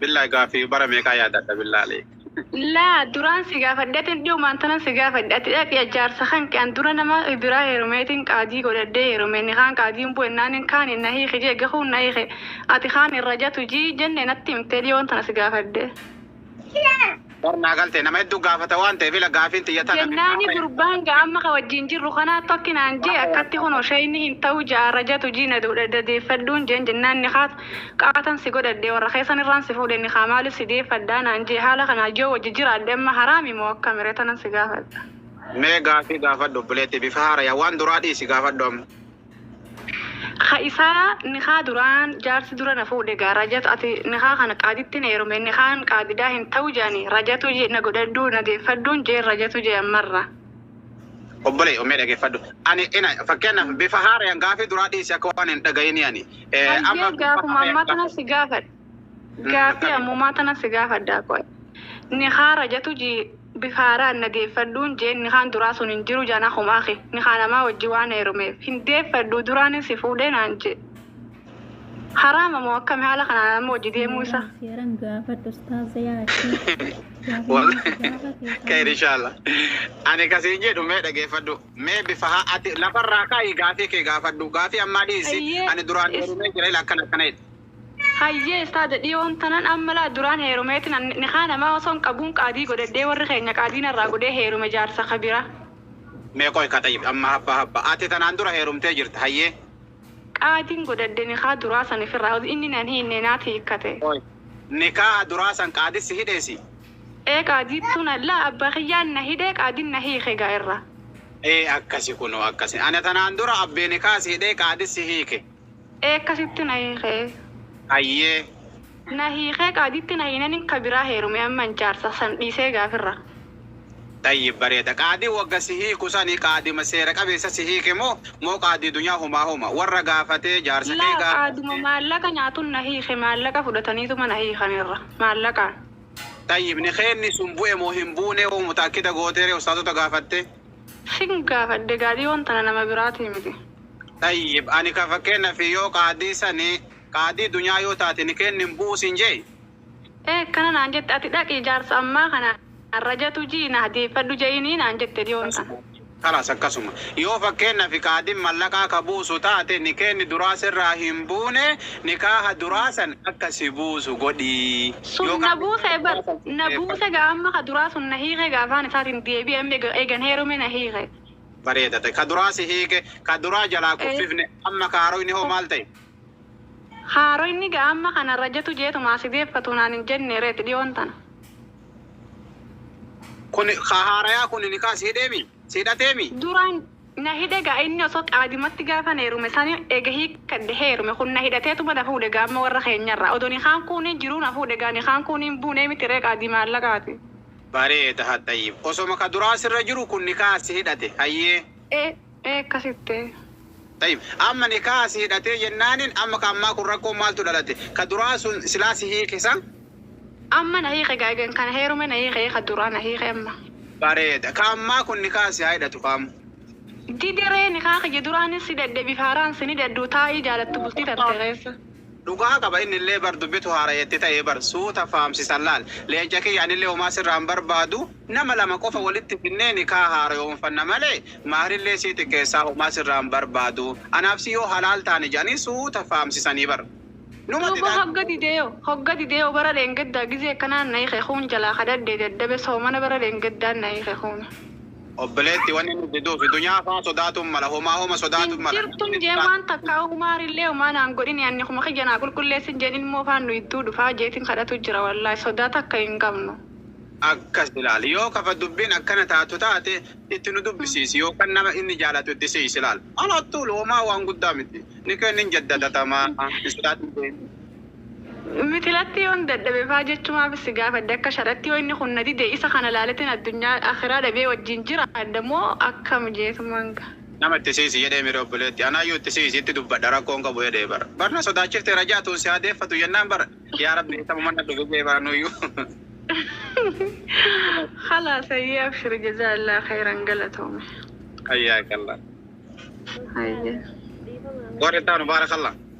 Billahi gaaffii bara meeqaa yaadadha billahi aleek. Laa duraan si gaafadhe ati hin dhihumaan tanan si gaafadhe ati dhaqi jaarsa kanke an dura nama biraa heerumeetiin qaadii godhadhee heerume nikaan qaadiin bu'e naanin kaaniin na hiiki jee gahuun na hiike ati kaan irra jatu jii jenne natti himtee dhiyoon tana si gaafadhe. Bar naa galtee nama hedduu gaafata waan ta'eef ila gaafiin tiyya tana. Jennaani gurbaan ga amma ka wajjiin jirru kanaattu akki naan jee akkatti kunoo shayni hin ta'uu ja'aa rajatu jii na dadeeffadhuun jeen jennaan nikaat qaatan si godhadhe warra keessan irraan si fuudhe nikaa maaliif si deeffadhaa naan jee haala kanaan yoo wajji jiraadhe amma haraami moo akkami ree tanan si gaafadha. Mee gaafii gaafadhu obboleetti bifa haarayaan waan duraa dhiisi gaafadhu amma. Ka isaa nikaa duraan jaarsi dura na fuudhe gaa rajatu ati nikaa kana qaaditti na heerumi nikaan qaadidaa hin ta'u je'ani rajatu je na godhadhuu na deeffadhuun jeen rajatu je ammarra. Obbolee omee dhageeffadhu ani ina fakkeenyaaf bifa haarayaan gaafii duraa dhiisi akka waan hin dhagayini ani amma Hayyee gaafuma ammaa tana si gaafadha. Gaafii ammumaa tana si gaafadha qoy. Nikaa rajatu ji Bifa haaraan na deeffadhuun jeen nikaan duraa sun hin jiru jaan akhumaa kee nikaa namaa wajjin waan heerumeef hin deeffadhuu duraanin si fuudhee naan jee haraama moo akkami haala kanaan amma wajji deemuu Seeran isaa seeran gaafadhu ustaaza yaa achi. Wal- Gaafii gaafate Khair qabna. inshallah. Ani kasiin jedhu mee dhageeffadhu. Mee bifa haa ati lafarraa kaa'i gaafii kee gaafadhu. Gaafii ammaa dhiisi. Ayyee, Ani duraan is- heerumee jira ila akkana akkana jedhe. Hayyee Ustaaza dhiyoon tanan amma laa duraan heerumeetin an nikaa namaa osoon qabuun qaadii godhadhee warri keenya qaadii narraa godhee heerume jaarsa ka bira. Mee qoy ka xayyib amma habba habba ati tanaan dura heerumtee jirta hayyee. Qaadiin godhadhe nikaa duraa san ifirraa oso inni nan hiinne naati hiikkate. Qoy nikaaha duraa san qaadi si hidhee si. Ee qaadiittuu na laa abba kiyyaan na hidhee qaadin na hiike gaa irra. Ee akkasi kunoo akkasi ani tanaan dura abbee nikaaha si hidhee qaadi si hiike Eekka sitti na hiikee. Hayyee. Na hiikee qaadiitti na hiinanin ka biraa heerume amman jaarsa san dhiisee egaa firra. Xayyib bareeda qaadii wagga si hiiku sani qaadima seera qabeessa si hiike moo moo qaadii dunyaa humaa huma warra gaafatee jaarsa kee Laa qaaduma gaafatte. maallaqa nyaatun na hiike maallaqa fudhataniituma na hiikan irra maallaqaan. Xayyib nikeenni sun bu'e moo hin buune hoo mutaakkida gooteeree ustaazota gaafattee. Sin gaafadhe gaadii yoon tana nama biraatii miti. Xayyib ani ka fakkeennafi yoo qaadii sani qaadii dunyaa yoo taate nikeenni hin bu'u siin je'e? Ee akkana naan jette ati dhaqii jaarsa ammaa kana rajatu ji'ii na hadiyeeffadhu je'iinii naan jette dhiyoon tana. Kalaas akkasuma. Yoo fakkeennafi qaadiin mallaqaa ka buusu taate nikeenni duraa sirraa hin buune nikaaha duraa san akka si buusu godhii. Sun na buuse bar na buuse gaa amma ka duraa sun na hiike gaa afaan isaatin deebi'e amma egan heerume na hiike bareeda ta'e ka duraa si hiike ka duraa jalaa Ee. kuffifne amma ka haaroyni hoo maal ta'e? Haaroyni gaa amma kana rajatu jeetu maa si deeffatu naan hin jenne reet dhiyoon tana. Kun ka haarayaa kun nikaa si hidheemi? Si hidhateemi? Duraan na hidhe gaa inni osoo qaadimatti gaafan heerume sani eega hiikkadhe heerume kun na hidhateetuma na fuudhe gaa amma warra keenyarraa odo nikaan kuuni jiruu na fuudhe gaa nikaan kuuni hin buunee miti ree qaadii maallaqaati. Bareeda had xayyib osoma ka duraa sirra jiru kun nikaha si hidhate hayyee. Ee ee akkasi ttee. Xayyib amma nikaha si hidhatee jennaanin amma ka ammaa kun rakkoon maaltu dhalate ka duraa sun silaa si hiike sa? Amma na hiike gaa egan kana heerume na hiike ee ka duraa na hiike amma. Bareeda ka ammaa kun nikaha si haa hidhatu ka amma. Dide ree nikaha kiyya duraanis si dadhebiif haaraan sin hidhadhu taa ii jaalattu bultii tante keessa. Dhugaa qaba innillee bar dubbitu haaraya itti ta'e bar suuta faamsisan laal leenca kiyya anillee homaa sirraa hin barbaadu nama lama qofa walitti finnee nikaha haarayoomfanna malee mahrillee sii xiqqeessaa homaa sirraa hin barbaadu anaaf si yoo halaal taane jedhanii suuta faamsisanii bar numa Duuba didaa hogga dideyo hogga dideyo bara dheengaddaa gizee akkanaa na hike kuun jalaa kadhadhee dadhabe soomana bara dheengaddaa na hike kuuni. Obboleetti wanni inni jiduufi dunyaa faa sodaatuun mala homaa homa sodaatu hin mala jirtu hin jeen waan takkaa umaar illee homaa naan godhini anni kuma kiyya naa qulqulleessi hin jeen ilmoo faan nu idduu dhufaa jeetin kadhatu jira wallaahi sodaa takka hin qabnu. Akkas ilaali yoo kafa dubbiin akkana taatu taate itti nu dubbisiisi yookan nama inni jaalatu itti si'i silaal alaa tuulu homaa waan guddaa miti nikeen hin jaddatatamaa hin sodaatin jeen. Mitilatti yoon dadhabe faa jechumaaf si gaafadhe akka sharatti yoo inni kun na dide isa kana laaletin addunyaa akiraa dhabee wajjin jiraadha moo akkam jeetu manga. Nama itti siisi jedhee mire obboleetti anaayyuu itti siisi itti dubbadha rakkoon qabu jedhee bar bar na sodaachifte rajaa tuun si haa deeffatu jennaan bar yaa rabbi dhiifama mana dhufe jee bar anuuyyuu. Khalaas hayyee abshiri jazaallaah khayran galatoomi. Hayyaakallaa. Hayyee. Warri itti aanu baarakallah.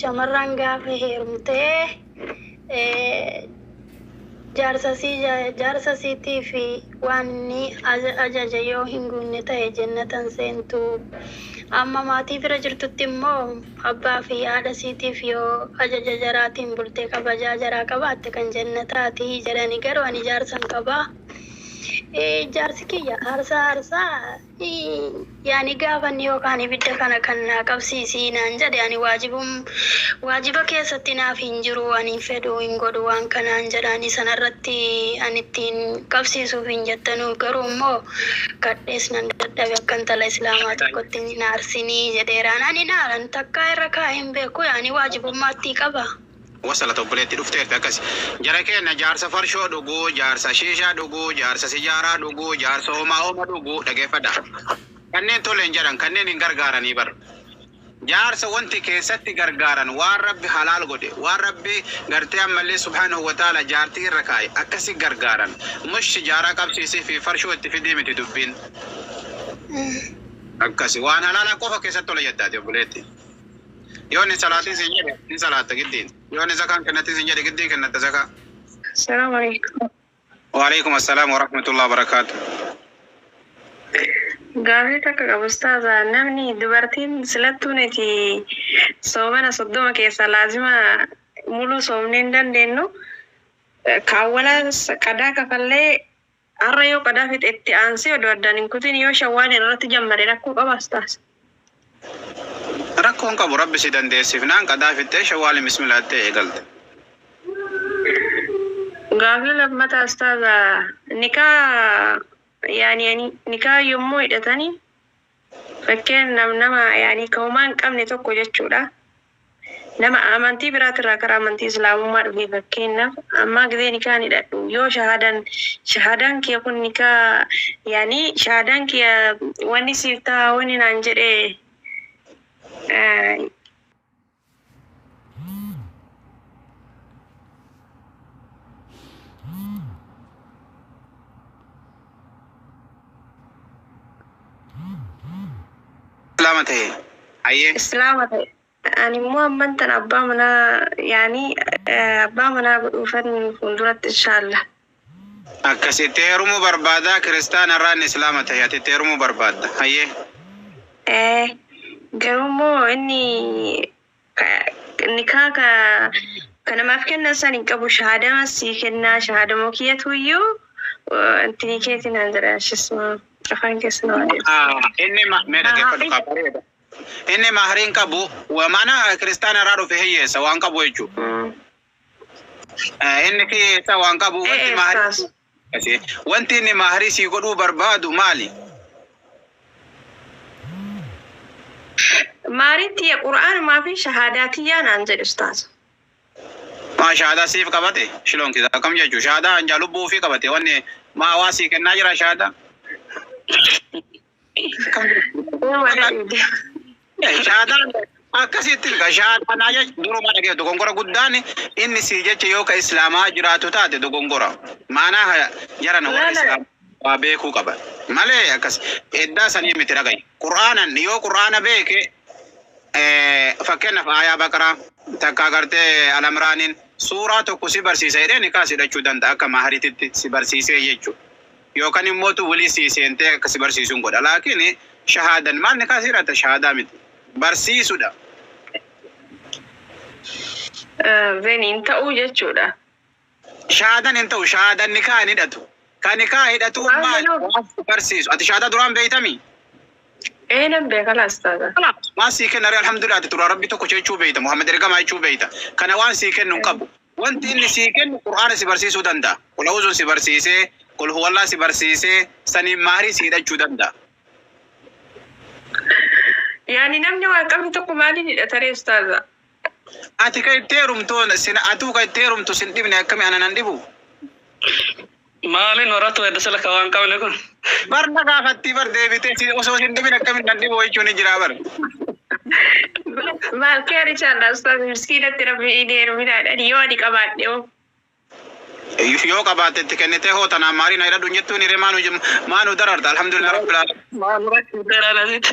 Shamarran gaafa heerumtee jaarsa isiitiif waan inni ajaje yoo hin guunne ta'e jennata hin seentu. Amma maatii bira jirtutti immoo abbaa fi haadha isiitiif yoo ajaja jaraatiin bulte kabajaa jaraa qabaatte kan jennataati jedhani. Garuu ani jaarsan qaba. Jaarsi kiyya aarsaa aarsaa Yaa ni gaafanni yookaan ibidda kana kan naa qabsiisi naan jedhe ani waajibum waajiba keessatti naaf hin jiru anin fedhu hin godhu waan kanaan jedhaani sana irratti an ittiin qabsiisuufin jettanu garuu immoo kadhees nan dadhabe akka intala islaamaa tokkotti hin aarsinii jedheeraan ani hin aaran takkaa irra kaa'ee hin beeku yaa ni waajibummaattii qaba. Wasalata obboleetti dhufteerti akkasi. Jara keenna jaarsa farshoo dhugu, jaarsa shiishaa dhugu, jaarsa sijaaraa dhugu, jaarsa homaa homa dhugu dhageeffadha. Kanneen tole hin jedhan, kanneen hin gargaaranii bar. Jaarsa wanti keessatti gargaaran waan Rabbi halaal godhe, waan Rabbi gartee ammallee subhaanahu wa ta'aala jaartii irra kaa'e akkasi gargaaran. Mush sijaaraa qabsiisii fi farshoo itti fidii miti dubbiin. Akkasi waan halaalaa qofa keessatti tola jedha ati obboleetti. Yoo inni salaatii siin jedhe ni salaatta giddiin. Yoo inni zakaan kennatii siin jedhe giddii kennatta zakaa. Salaam alaikum. Waalaikum assalaam wa rahmatullahi wa barakaatu. Gaafii takka qaba ustaaza namni dubartiin silattuu nuti soomana soddoma keessaa laazima muluu soomnee hin dandeennu ka awwalaas qadaa kafallee Har'a yoo qadaa fixe itti aansee odoo addaan hin kutin yoo shawwaaliin irratti jammare rakkoo qabaa ustaaz? Rakkoo hin qabu rabbi si dandeessifnaan qadaa fixxee shawwaaliin bismillah jettee eegalta. Gaafii lammataa ustaaza nikaa yaani ani nikaa yommuu hidhatani Fakkeenyaaf nama yani ka homaa hin qabne tokko jechuudha. Nama amantii biraatirraa karaa amantii islaamummaa dhufee fakkeenyaaf ammaa gizee nikaan hidhadhu yoo shahaadaan shahaadaan kiya kun nikaa yani shahaadaan kiya wanni siif taha wanni naan jedhe Islaama ta'e. Hayyee. Islaama ta'e. Ani immoo amman tan abbaa manaa yaanii eh, abbaa manaa godhuufan fuulduratti inshaallah. Akkas itti heerumuu barbaadaa kiristaana irraa inni islaama tahe ati itti heerumuu barbaadda hayyee. Ee garuu immoo inni ka nikaa ka ka namaaf kennan san hin qabu shahaadama sii kennaa shahaadama kiyyatu iyyuu intinii keeti naan jedha ishis afaan keessa na waan Haa inni ma mee dhaggeeffadhu kaa bareeda inni mahrii hin qabu wa maana kiristaana irraa dhufe hiyyeessa waan qabu jechuu. jedhe. Eh, Inni kee eessaa waan qabu Eh, wanti eh, maarii saas. Asee, wanti inni maarii sii godhuu barbaadu maali? Maariin tiyya qur'aanumaa fi shahaadaa tiyyaa naan jedhe ustaaza. Maa shaadaa siif qabate shiloon kisa akkam jechuu shaadaa hanjaa lubbuu ofii qabate wanni maa waa sii kennaa jira shaadaa Shaadaan akkasitti ilka shaadaanaa jecha duruma dhagee dogongora guddaan inni sii jecha yoo ka islaamaa jiraatu taate dogongora maanaa ha jarana warra islaamaa waa beekuu qaba malee akkas eddaa sanii miti dhagayi qur'aanan yoo qur'aana beeke fakkeenyaaf aayaa baqaraa takka agartee alamraaniin suuraa tokko si barsiisa jedhee nikaa si hidhachuu danda'a akka maharititti si barsiisee jechuudha. Yookan immoo utuu wly sii seentee akka si barsiisun godha laakiin shahaadan maal nikaa sii irraata shahaadaa miti barsiisudha. Ven hin ta'uu jechuudha. Shahaadan hin ta'u shahaadan nikaa hin hidhatu ka nikaa hidhatuu Maal maal jedhuu? waan si barsiisu ati shahaadaa duraan beeytamii Ee nan beeka laa ustaaza. waan sii kenna ree alhamdulillah ati duraan rabbi tokko jechuu beeyta muhammad ergamaa jechuu beeyta kana waan sii kennu hin qabu. Wanti inni sii kennu Qur'aana si barsiisuu danda'a. Qul A'uuzun si barsiisee, Qul Huwallaah si barsiisee, saniin mahrii si hidhachuu danda'a. Yaani namni waa qabne tokko maaliin hidhata ree ustaaza? Ati ka itti heerumtu, sin atuu ka itti heerumtu sin dhibne akkami ana nan dhibu? Maali noratu heddu silka waan qabne kun. Bar na gaafattii bar deebitee si osoo sin dhibin akkamin nadhi boo'ichuu ni jiraa bar. Maaf kee richaadha ustaaz miskiinatti rabbi inni heeruminaadhaan yoo ani qabaadhe hoo. Yoo qabaatte itti kennitee hoo tanaan maarii na hidhadhu hin jettuun hiree maa nu maa nu dararta alhamdulillah rabbil alamin. Maal rakkoo dheeraa nasitti.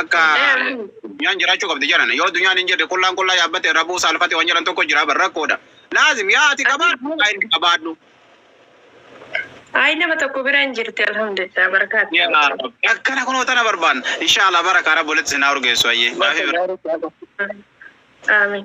Akka addunyaan jiraachuu qabdi jedhan. Yoo addunyaan hin jirre qullaan qullaa yaabbate rabuu saalfate waan jedhan tokko jira bar rakkoodha. Laazim yaa ati qabaadhu yaa inni qabaadhu. Ayi nama tokko bira hin jirti alhamdulillah barakaa itti Yaa argatu. Rabbi akkana kunoo tana barbaanna. Inshaa Allah barakaa rabbi walitti isin haa urgeessu hayyee. Gaafii biraa. Amin.